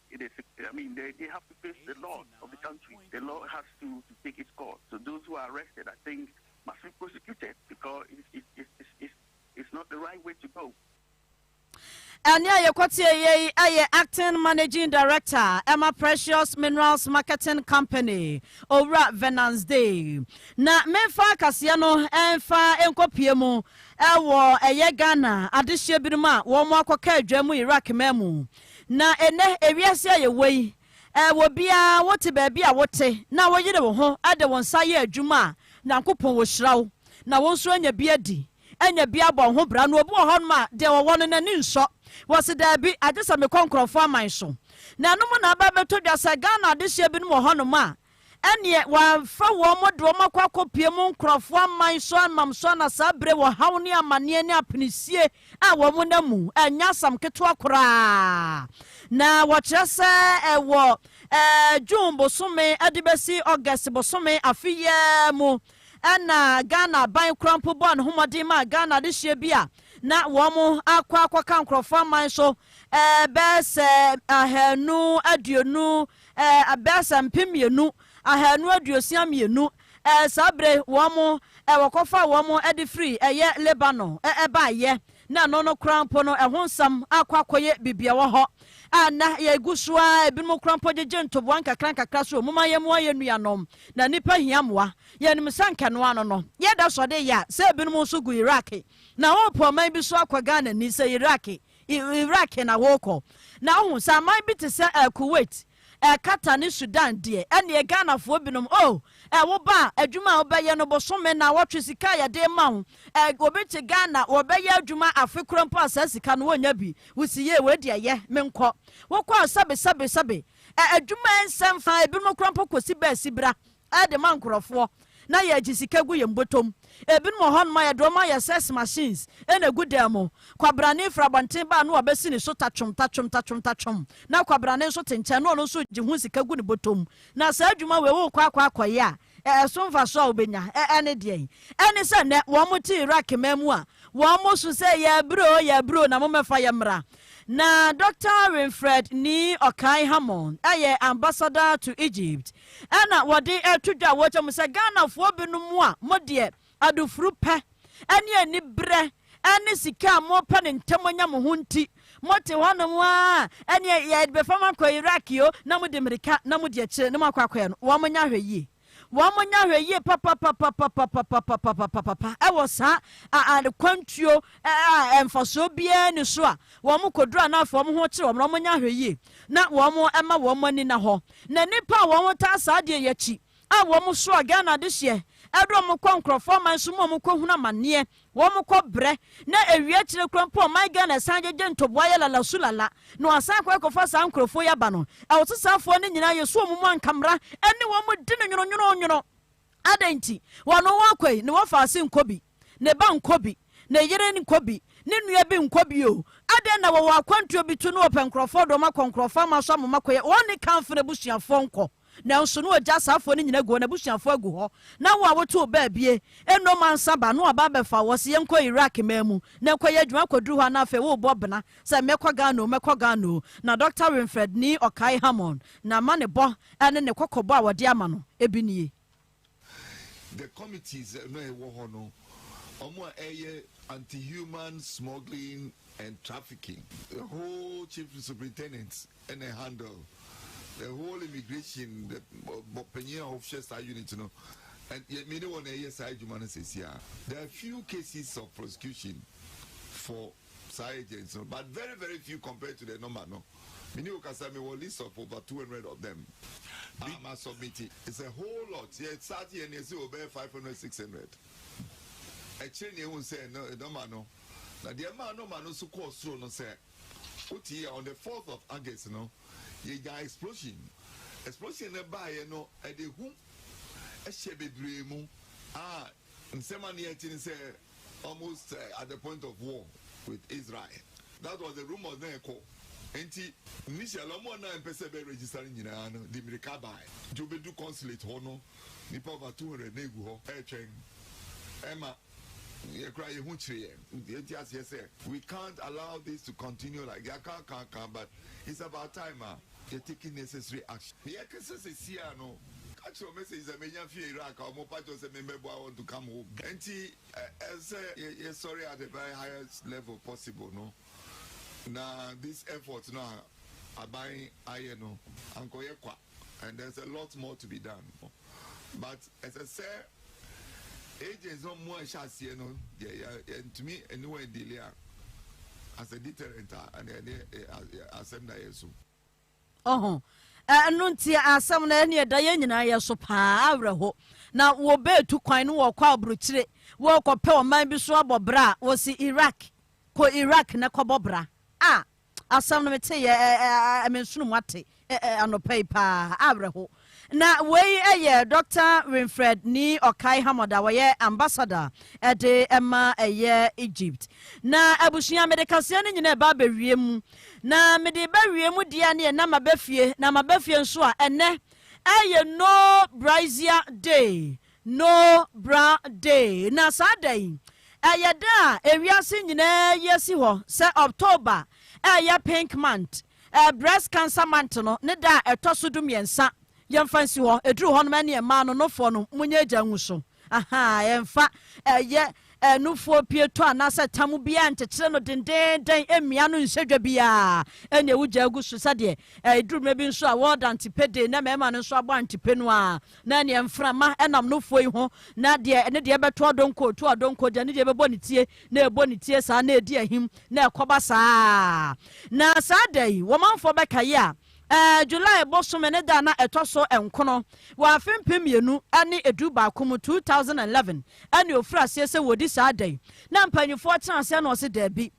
It is I mean they they have to face the law of the country. The law has to to take its course. So those who are arrested, I think, must be prosecuted because it's it's it's it's, it's, it's not the right way to go. ɛne a yɛkɔteɛ yei ɛyɛ acting managing director ɛma precious minerals marketing company owura venance day na memfa kaseɛ no ɛmfa nkɔpie mu ɛwɔ ɛyɛ ghana adehyeɛ binom a wɔn akɔka adwa mu iraq ma mu Na ɛnnɛ, ewiase a yɛwɔ yi, wɔ biara wote baabi a wote na woyere wo ho de wo nsa yɛ adwuma a, Nyankopɔn wɔhyira wo. Na wo nso anya bi adi, anya bi abɔ wo ho bra. Na obi wɔ hɔnom a, deɛ ɔwɔ no, n'ani nsɔ. Wɔse daabi, agye sɛ mekɔ nkorɔfoɔ aman so. Na ɛno mu na aba abɛtɔ dwa sɛ Ghana adehyeɛ binom wɔ hɔnom a, ɛnneɛ wɔamfa wɔn de wɔn akɔ akɔpue mu nkurɔfoɔ aman so amam so na saa bere wɔ haw ne amanneɛ ne apinisie a wɔn nna mu ɛnyɛ asam ketewa koraa na wɔkyerɛ sɛ ɛwɔ ɛɛ june bosome ɛde bɛsi august bosome afe yɛ mu ɛna ghana aban kora mpo bɔɔ ne ho mmɔden ma ghana adehyeɛ bi a na wɔn akɔ akɔka nkurɔfoɔ aman so ɛɛ bɛɛ sɛ ahanu aduonu Ɛɛ, abɛɛsɛ mpem mmienu, ahanu aduosia mmienu, ɛɛ, saa berɛ yi wɔn, ɛɛ, wɔkɔfaa wɔn de firii, ɛyɛ, Lebanon, ɛɛ, baeɛ, na ɛno no koraa mpo no ɛho nsɛm akɔ akɔyɛ biribi ɛwɔ hɔ a nnɛ yɛgu so ara, ebinom koraa mpo gyegye ntoboa nkakra nkakra so, momma yɛmmoa yɛn nuanom, na nnipa hia mmoa, yɛnim sɛ anka ɛno ano no yɛda sɔde yɛ a, sɛ ebinom nso gu Iraq, na wɔrepo ɔman bi so akɔ Ghana ni, sɛ Iraq, Iraq na worekɔ. Na wohu, sɛ aman bi te sɛ ɛɛ Kuwait, ɛɛ Qatar ne Sudan deɛ, ɛnneɛ Ghanafoɔ binom, oh, ɛɛ woba a, adwuma a wobɛyɛ no, bosome, nnawɔtwe, sika a yɛde rema wo, ɛɛ obi te Ghana, wɔbɛyɛ adwuma afe korɔ mpo a saa sika no wɔnnya bi, wosi yee, wei deɛ yɛ, menkɔ. Wokɔ a, sɛbe, sɛbe, sɛbe. Ɛɛ adwuma nsɛ mfa, ebinom koraa mpo kɔsi bɛɛsi bra. de ma nkorɔfoɔ na yɛgye sika gu yɛn bɔtɔm. Ebinom wɔ hɔnom a yɛde wɔn ayɛ sex machines na egu dan mu. Kwabrane firi abɔnten ba a na wabɛsi ne so tatwom tatwom tatwom tatwom na kwabrane nso te nkyɛn na ɔno nso gye ho sika gu ne bɔtɔm. Na saa adwuma wei wokɔ akɔ akɔyɛ a ɛso mfasoɔ a wobɛnya ne deɛn? Ɛne sɛ nnɛ wɔte Iraq man mu a wɔso sɛ yɛabrɛ o yɛabrɛ o na mommɛfa yɛn mmra. Na Doctor Winfred Nee Okae Hammond yɛ Ambassador to Egypt na wɔde reto dwa wɔ kyɛ mu sɛ Ghanafoɔ binom a mo deɛ adufuru pɛ ne aniberɛ ne sika a mopɛ no ntɛm anya mo ho nti mote hɔnom ara ɛneɛ yɛde bɛfa mo akɔ Iraq o na mode mmirika na modi akyire na moakɔ akɔyɛ no wɔn nyɛ ahwɛ yie wɔn nyɛ ahwɛ yie papapapapapapapapapapa ɛwɔ saa akwantuo a mfasoɔ biara ni so a wɔn kɔduru anaafo wɔn ho kyerɛ wɔn wɔn nyɛ ahwɛ yie na wɔn ɛma wɔn ani na hɔ Na nnipa a wɔn taa saa adeɛ yi akyi a wɔn soa Ghana adehyeɛ ɛde wɔn kɔ nkorɔfoɔ aman so ma wɔn kɔ hunu amaneɛ, wɔn kɔ brɛ, na ɛwie akyire koraa mpo ɔman Ghana ɛsan gyegye ntoboa yɛ lala su lala na wɔasan akɔ akɔ fa saa nkorɔfoɔ yi aba no. Ɛwɔ sɛ saa foɔ no nyinaa yɛ so wɔn mu anka mmra ɛne wɔn di no nwono nwono nwono. Adɛn nti? Wɔn wɔn akɔ yi ne wɔfa ase nkɔ bi. ne ba nkɔ bi, ne yere nkɔ bi, ne nua bi nkɔ bi o, adɛn na wɔwɔ akwantuo bi to ne wɔpɛ nkurɔfoɔ de wɔn akɔ nkurɔfoɔ ama so amoma kɔyɛ, wɔn ne kanfo no abusuafoɔ nkɔ, nanso na ɔgya asaafoɔ no nyina gu hɔ, n'abusuafoɔ agu hɔ, na wo a wote wo baabie, ɛnnɔ mansa ba, na waba abɛfa wo, ɔse yɛnkɔ Iraq man mu, na ɛkɔ yɛ adwuma kɔduru hɔ a na afei worebɔ bena sɛ mɛkɔ Ghana o, mɛkɔ Ghana o, na Dɔkta Winfred Nii ɔkae Hammond, na ma ne bɔ ne ne kɔkɔbɔ a wɔde ama no bi nie. The committees no a ɛwɔ hɔ no, wɔn a ɛyɛ anti-human smuggling and trafficking, the whole chief superintendent ɛna ɛhandle, the whole immigration, the bɔpanyin a ɔhwɛ saa unit no, yɛ mi ne wɔn na ɛyɛ saa adwuma no sɛsi a. There are few cases of prosecution for. saa agents no but very very few compared to the number no me ne okasa me wɔ list of over two hundred of them a ma submit it's a whole lot yɛ start yɛ ne ɛsɛ wɔ bɛyɛ five hundred six hundred ɛkyerɛ ne ehu sɛ no nɔma no na deɛ ɛmaa nɔma no so kɔɔ soro no sɛ wote yɛ on the fourth of august no yɛ gya explosion explosion no baayɛ no ɛde hu ɛhyɛ bebree mu a. Nsɛm a ne yɛ kyi ne sɛ almost at the point of war with Israel that was the rumours na ɛkɔ nti initially ɔmo a na ɛmpɛ sɛ ɛbɛ register no nyinaa no de mirika baɛ nti obedu consulate hɔ no nipa over two hundred na egu hɔ ɛɛtwɛn ɛma yɛ kura yɛ ho kyire yɛ yɛ ti aseɛ sɛ we can't allow this to continue like yɛ aka aka aka but it's about time a. You're taking necessary action Nea ɛkesa sesiaa no ka kyerɛ wo message sɛ menya fii Iraq a wɔn pa kyɛw sɛ memmɛboa wɔn to come home Ɛnti ɛsɛ sɛ yɛsɔre at the very highest level possible no na this effort no a aban ayɛ no ankɔyɛ kwa and there's a lot more to be done but ɛsɛ sɛ Agents no ɔmo a ɛhyɛ aseɛ no deɛ yɛ yɛntumi ɛne wɔn ɛdili a as a deterrent a ɛna ɛne asɛm na yɛ so. Ɔho ɛno nti asɛm no ɛne ɛda yɛn nyinaa yɛ so paa awerɛho na wɔbɛɛtu kwan no wɔkɔ aburukyire wɔkɔpɛ ɔman bi so abɔ bra a wɔsi Iraq kɔ Iraq na kɔbɔ bra a Asɛm no meteeɛ ɛ-ɛ-ɛ-ɛ mensono mu ate ɛ-ɛ-ɛ anɔpa yi paa, awerɛho. Na wei yɛ Dɔkta Winfred ni Ɔkai Hammad a ɔyɛ Ambassador de ma ɛyɛ Egypt. Na abusua mede kaseɛ no nyina ɛba abɛwie mu. Na mede ba wie mu deɛ neɛ na maba fie, na maba fie nso a ɛnɛ ɛyɛ No Brazier Day. No Bra Day, Na saa da yi yɛ da a ewiase nyinaa ayi asi hɔ sɛ October a ɛyɛ Pink Month, Breast Cancer Month no ne da a ɛtɔ so dumiɛnsa. Yɛmfa nsi hɔ, ɛduru hɔ nom ɛneɛ mmaa no nofoɔ no monyɛ agya ngu so. Ahaa, ɛmfa ɛyɛ nufoɔ pietɔ anaasɛ tam biara nkyekyere no dendeenden, ɛmmia no nhyɛ dwa biara, ɛneɛ wogya agu so sɛdeɛ ɛduru mmerɛ bi nso a World Antepe Day na mmarima no nso abɔ antepe no ara. Na ɛneɛ mframa nam no foɔ yi ho, na deɛ ɛne deɛ ɛbɛto adonko to adonko, deɛ ɛne deɛ ɛbɛbɔ ne tie na ɛbɔ ne tie saa na ɛdi ahim na ɛkɔba saa ara. Na saa da yi, wɔmanfoɔ bɛkae a, ɛɛ July bosome ne da a na ɛtɔ so nkono wɔ afe mpem mmienu ne edu baako mu, 2011, ɛne ɔfiri aseɛ sɛ wɔdi saa da yi. Na mpanimfoɔ tena aseɛ na wɔse daabi.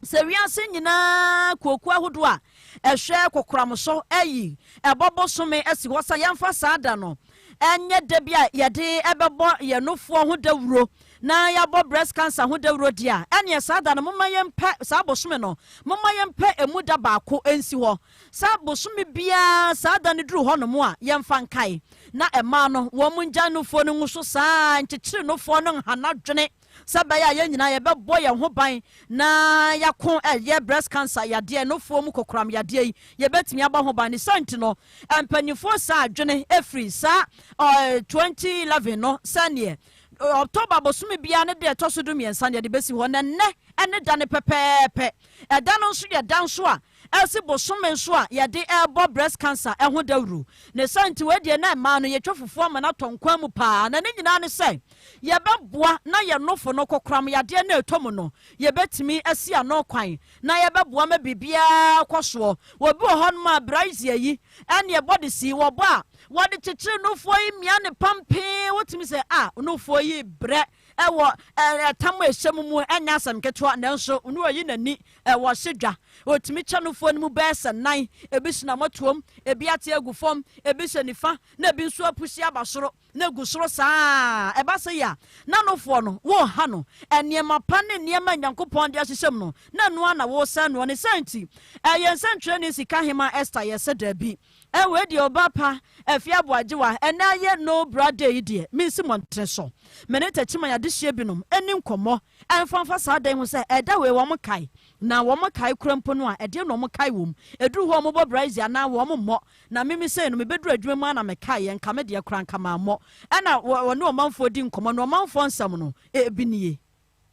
Sɛ wiase nyinaa akuokuo ahodoɔ a ɛhwɛ kokoram so ayi ɛbɔ bosome asi hɔ sɛ yɛmfa saa da no nyɛ da bi a yɛde bɛbɔ yɛn nofoɔ ho dawuro na yɛabɔ breast cancer ho dawuro deɛ a, ɛneɛ saa da no momma yɛmpɛ saa bosome no, momma yɛmpɛ ɛmu da baako nsi hɔ. Sɛ bosome biara saa da no duru hɔnom a, yɛmfa nkae na ɛmaa no wɔn ngya nofoɔ no ngu so saa nkyekyere nofoɔ no nhana dwene. Sɛ ɛbɛyɛ a yɛn nyinaa yɛbɛbɔ yɛn ho ban na yɛako ɛyɛ breast cancer yadeɛ, nufoɔ mu kokoram yadeɛ yi, yɛbɛtumi abɔ ho ban. Ne saa nti no, mpanimfoɔ saa adwene ɛfiri saa 2011 no sɛdeɛ October bosome biara ne deɛ ɛtɔ so du mmiɛnsa no yɛde bɛsi hɔ na nnɛ ɛne da no pɛpɛɛpɛ. Ɛda no nso yɛ da nso a ɛsi bosome nso a yɛde rebɔ breast cancer ho dawuru. Ne saa nti wei deɛ na mmaa no yɛtwa fufuo ama no atɔ nkwan mu pa ara na ne nyinaa ne sɛ yɛbɛboa na yɛn nofo no kokoram yadeɛ no a ɛtɔ mu no yɛbɛtumi asi ano kwan na yɛbɛboa ma biribiara kɔ soɔ. Obi wɔ hɔnom a brazier yi ɛne ɛbɔ de si wɔbɔ a wɔde kyekyere nufoɔ yi mia no pampee wotumi sɛ a nufoɔ yi brɛ wɔ ɛtam a ɛhyɛ mu mu ɛnyɛ asɛm ketewa, nanso ne ɔyi n'ani wɔ ɔhye dwa. Ɔtumi kyɛ nofoɔ no mu bɛyɛ sɛ nan, ebi hyɛ n'amɔtoam, ebi ate agu fam, ebi hyɛ nifa, na ebi nso apusi aba soro, na egu soro saa ara. Ɛba sɛ yɛ a, na nofoɔ no, woreha no. Nneɛma pa ne nneɛma a Nyankopɔn de ahyehyɛ mu no, na ɛno ara na woresɛe noɔ. Ne saa nti, ɛyɛ nsɛnkyerɛnne sika hemmaa Ester? Yɛse daabi. Ɛ wei deɛ ɔbaa pa Afie Aboagyewa ɛnɛ ayɛ no bra day yi deɛ mensi mmɔntene so me ne Takyiman adehyeɛ binom ɛni nkɔmmɔ ɛmfa mfa saa da yi ho sɛ ɛda wei wɔn kae na wɔn kae kora mpo no a ɛdeɛ na wɔn kae wɔ mu ɛduru hɔ wɔn bɔ braise anaa wɔn mmɔ na mimi sei no mebɛduru adwuma mu a na mekae yɛ nka me deɛ kora nka mammɔ ɛna wɔne ɔmanfoɔ di nkɔmmɔ na ɔmanfoɔ nsɛm no ebi nie.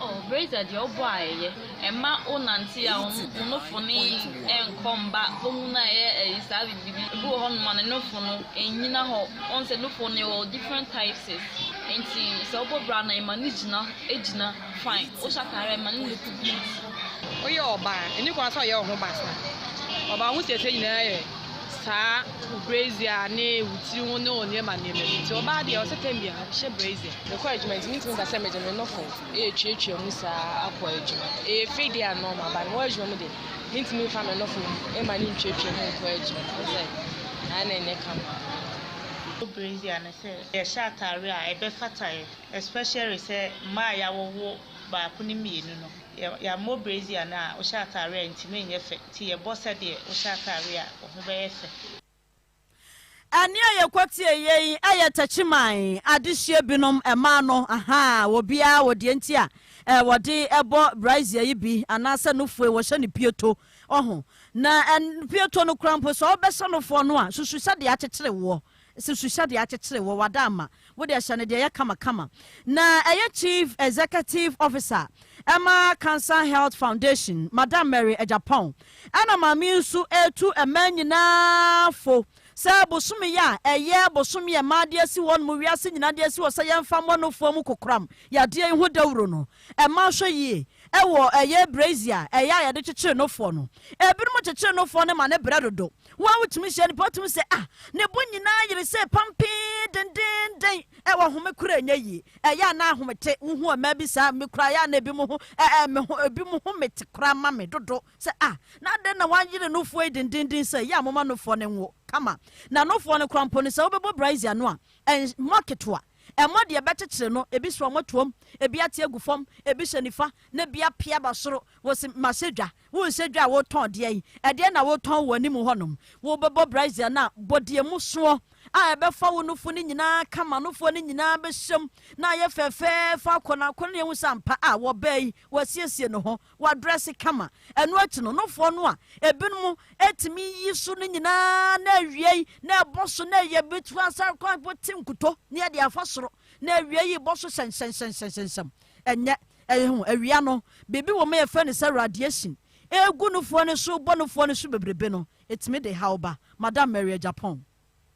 Oh Braiza deɛ wo bɔ a ɛyɛ. Ɛmma wo nante a wo no fo no nkɔ mba wo ho no a ɛyɛ ɛyi saa bibi bi wɔ hɔ nom a ne no fo no nnyina hɔ wohu sɛ no fo no yɛwɔ different typeses nti sɛ wo bɔ bra no ɛma no gyina gyina fine wo hyɛ ataare a ɛma no look good. Woyɛ ɔbaa ɛni kwan sɛ ɔyɛ wo ho basaa ɔbaa ho siesie nyinaa yɛ saa brazier ne wo tiri ho ne wo nneɛma nneɛma bi nti ɔbaa deɛ ɔsɛ tɛm bia hyɛ brazier. mekɔ adwuma nti mentumi ka sɛ mede me nofo ɛtuatua mu saa akɔ adwuma ɛyɛ fei deɛ a normal ba mewɔ adwuma mu de mentumi fa me nofo ɛma ne ntuatua mu nkɔ adwuma wo sɛ ɛna ɛnyɛ kama brazier no sɛ yɛhyɛ atare a ɛbɛfataeɛ especially sɛ mmaa a yɛawowo baako ne mmienu no Yɛ yɛammɔ brazier no a wohyɛ atare a ntumi nyɛ fɛ nti yɛbɔ sɛdeɛ wohyɛ atare a wo ho bɛyɛ fɛ. Ɛnne a yɛkɔteɛ yɛ yi yɛ takyiman adehyeɛ binom mmaa no ahaa wɔ biara wɔ deɛ nti a wɔde bɔ brazier yi bi anaasɛ nofue wɔhyɛ no pieto ɔho na pieto no kora mpo sɛ wobɛhyɛ nofoɔ no a susu sɛdeɛ akyekyere woɔ Se suhyɛ deɛ akyekyere wɔ w'adaama, wo deɛ hyɛ no deɛ ɛyɛ kama kama. Na ɛyɛ Chief Executive Officer ɛma Cancer Health Foundation, Madam Mary Agyapong, ɛna maame yi nso retu mmaa nyinaa fo sɛ bosome yi a ɛyɛ bosome a mmaa de asi hɔ nom, wiase nyinaa de asi hɔ sɛ yɛmfa mmɔ nofoɔ mu kokoram yadeɛ yi ho dawuro no, mmaa hwɛ yie ɛwɔ ɛyɛ brazier ɛyɛ a yɛde kyekyere nofoɔ no. Ebinom kyekyere nofoɔ no ma ne brɛ dodo. Wo a wutumi hyia nnipa a wotumi sɛ, Ah, ne bo nyinaa yere sɛ pampee, dendeenden. Ɛwɔ home koro a ɛnyɛ yie. Ɛyɛ a na ahome te. Wuhu mmaa bi saa? Me koraa, ɛyɛ a na ebinom ho, ɛ, ɛ, me ho, ebinom home te koraa ma me dodo. Sɛ, Ah, na adɛn na wɔayere nofoɔ yi dendeenden sɛɛ? Ɛyɛ a momma nofoɔ no nwo kama. Na nofoɔ no koraa mpo no, sɛ wobɛbɔ braise ano a, ɛ, mmɔ ketewa. Ɛmmɔ deɛ ɛbɛkyekyere no. Ebi so a wɔatuam, ebi ate agu fam, ebi hyɛ nifa, na ebi apia ba soro. Wose, Mahyɛ dwa. Wo nsa dwa a woretɔn deɛ yi, ɛdeɛn na woretɔn wɔ w'anim hɔnom? Wobɛbɔ brazier no a, bɔ deɛ mu soɔ a ɛbɛfa wo nofo no nyinaa ka ma nofoɔ no nyinaa bɛhyɛm na ayɛ fɛfɛɛfɛ akɔ na akɔ na yɛhu sɛ ampa a wɔbaa yi wasiesie ne ho, wadrɛse kama. Ɛno akyi no, nofoɔ no a ebinom tumi yi so no nyinaa na awiei na ɛbɔ so na ɛyɛ bɛtu asa kɔ abɛte nkuto ne ɛde afa soro na awiei bɔ so hyɛnhyɛnhyɛnhyɛnhyɛnhyɛm. Ɛnyɛ Ɛyɛ hu, awia no, biribi wɔ mu a yɛfrɛ no sɛ radiation, ɛregu nufoɔ no so rebɔ nufoɔ no so bebrebe no, ɛtumi de haw ba. Madam Maria, Japan.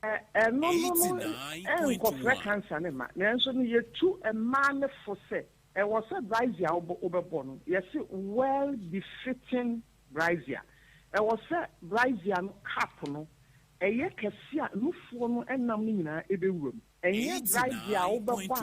Ɛno no no nkɔfrɛ cancer no mma, nanso no yɛtu mmaa no fo sɛ ɛwɔ sɛ brazier a wobɛbɔ no, yɛse well befitting brazier. Ɛwɔ sɛ brazier no cap no ɛyɛ kɛse a nufoɔ no nam no nyinaa bɛwura mu. Ɛnyɛ brideɛ a wobɛbɔ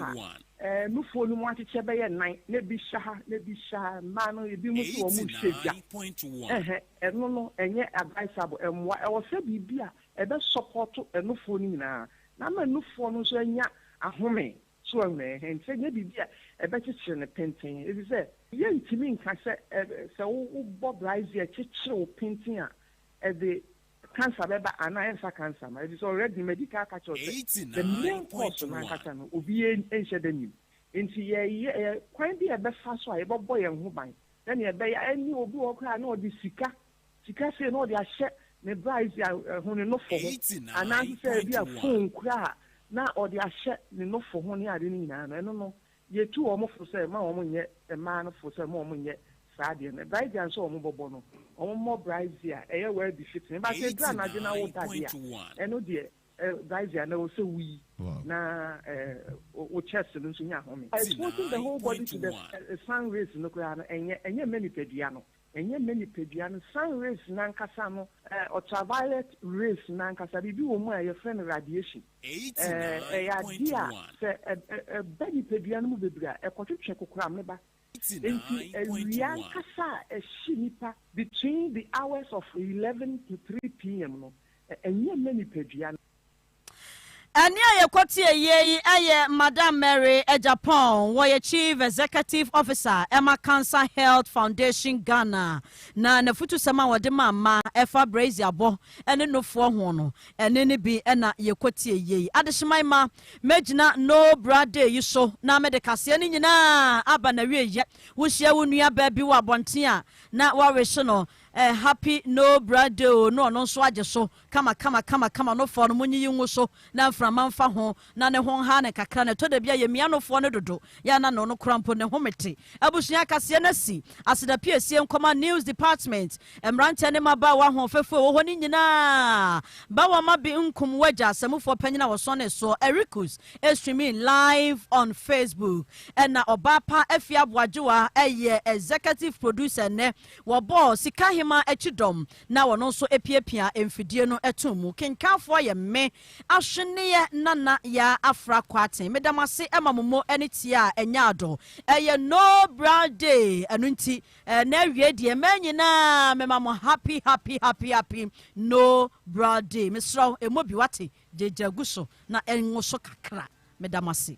a ɛɛ nufoɔ no mu akyekyɛ bɛyɛ nnan na ebi hyɛ ha na ebi hyɛ ha mmaa no ebi mo so wɔn hyɛ dwa ɛhɛ ɛno no ɛnyɛ advisable ɛmmoa ɛwɔ sɛ biribi a ɛbɛ support ɛnufoɔ no nyinaa na ama ɛnufoɔ no nso anya ahome so wɔn ɛhɛ nti sɛ ɛnyɛ biribi a ɛbɛ kyekyere no penten efisɛ yɛ ntumi nka sɛ ɛɛ sɛ wo bɔ brideɛ kyekyere wo penten a ɛde Cancer bɛba anaa ɛnsa cancer ma ɛfisɛ already medical ka kyerɛ wo sɛ the main cause no ankasa no obiaa nhyɛ da nnim nti yɛyɛ yɛ kwan bi a yɛbɛfa so a yɛbɛbɔ yɛn ho ban sɛnea ɛbɛyɛ a ɛnneɛ obi wɔ hɔ koraa na ɔde sika sika sei na ɔde ahyɛ ne brides ho ne nofo ho anaa nso sɛ ebi a phone koraa na ɔde ahyɛ ne nofo ho ne ade no nyinaa no ɛno no Yetu wɔn fo sɛ mma wɔn nyɛ mmaa no fo sɛ mma wɔn nyɛ saa adeɛ no. Brae dua nso a wɔn bɔbɔ no, wɔn mmɔ brae dzi a ɛyɛ wɛɛ bi fetee. But sɛ eduru anadwo na wo da deɛ a, ɛno deɛ eh, brae dzi a na ɛwɔ sɛ wo yi na eh, wo chest no nso nya home. Exposing the whole body to the eh, sun rays no koraa no, ɛnyɛ, ɛnyɛ mma nipadua no. Ɛnyɛ me nipadua no, sun rays no ankasa no, ɛɛ, ultraviolet rays no ankasa, biribi wɔ mu a yɛfrɛ no radiation. Ɛɛ, ɛyɛ adeɛ a sɛ ɛ, ɛ, ɛba nipadua no mu bebree a, ɛkɔtwetwe kokoramneba. Enti awia ankasa a ɛhye nnipa between the hours of eleven to three PM no, ɛ, ɛnyɛ me nipadua no. Ɛnne a yɛkɔteɛeɛ yi yɛ Madam Mary Agyapong, wɔyɛ Chief Executive Officer ma Cancer Health Foundation Ghana, na n'afutusɛm a ɔde maa mma ɛfa braziabɔ ne nufoɔ ho no, ɛnne no bi na yɛkɔteɛeɛ yi. Adehyeman mma, mɛgyina No Bra Day yi so na mede kaseɛ no nyinaa aba n'awieeɛ. Wohyia wo nuabaa bi wɔ abɔnten a, na woawehye no Happy No Bra Day o, na ɔno nso agye so. kama kama kama kama nofoɔ no monyiyi ngu so na mframa mfa ho na ne ho nha no kakra na ɛtɔ da bi a yɛmia nofoɔ no dodo yɛ na no no kora mpo ne ho mete abusua akaseɛ no asi aseda piesie nkɔma news department mmeranteɛ ne mmabaawa ahoɔfɛfoɔ ɛwɔ hɔ no nyinaa bawa ma bi nkum wagya asɛmufoɔ panyin a wɔsɔn ne soɔ ericus streaming live on facebook ɛna ɔbaa pa afi aboagyewa ɛyɛ executive producer nnɛ wɔbɔɔ sika hema akyi dɔm na wɔn nso apiapia mfidie no atom mu. Kenkanfoɔ yɛ me, Ahweneɛ Nana Yaa Afra Kwarteng. Meda mo ase ma mo mo ani teɛ a ɛnyɛ adɔ. Ɛyɛ No Bra Day, ɛno nti eh, na awie deɛ mmaa nyinaa mema mo happy happy happy happy No Bra Day. Mesrɛ wo, ɛmmɔ bi wate, gyagya gu so na ɛnwo so kakra. Meda mo ase.